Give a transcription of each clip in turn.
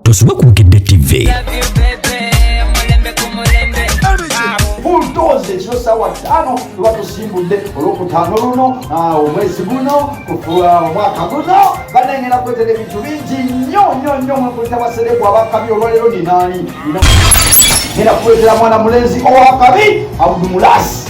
Tosubwa ku Bukedde TV. buldoze ekiro saawa ttaano luba tusimbudde olwokutaano luno ah, omwezi guno kufuula ah, omwaka guno banengera kwetera ebintu bingi nnyo nnyo nnyo mwekulita basereku abakabi olwaleero ninaani era kuletera mwana mulenzi owakabi abudumulasi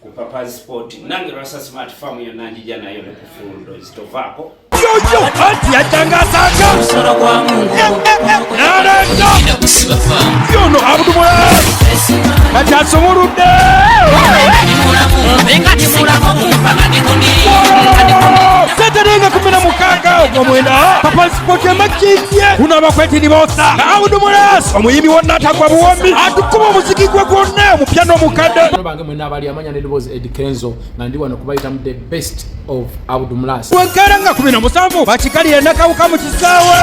ku papa sport nange lwasa smart farm yonna njija nayo ne ku fundo zitovaako yoyo anti yajangasanga omusolo gwa mungu naleta yono abudumwe kati asumuludde seterenga kumi na mukaaga ogwomwenda papa sport emakindye kuno abakweti nibosa abudumulas omuyimbi wonna atagwa buwombi atukuba omuziki gwe gwonna omupya n'omukadde mwe nabali amanya ne dobozi Ed Kenzo nga ndi wano kubayita mu the best of Abdul Mlas wekera nga kubina musanvu bakikalira nakawuka mu kisaawe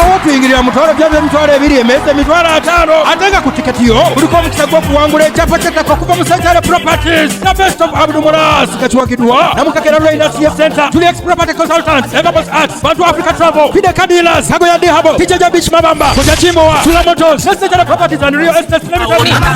awo kuyingirira mutwalo byabyo emitwalo ebiri emeza emitwalo ataano ate nga ku tiketi yo kuliko omukisa gw'okuwangula ekyapa ky'ettaka okuva mu Santale Properties the best of Abdul Mlas nga kiwagiddwa namukakera Lweyina CF Center Julius Property Consultants Evabos Arts Bantu Africa Travel Fide Kadilas Kagoya Dehabo Kijaja Beach Mabamba Koja Kimowa Sula Motors Santale Properties and Real Estate Limited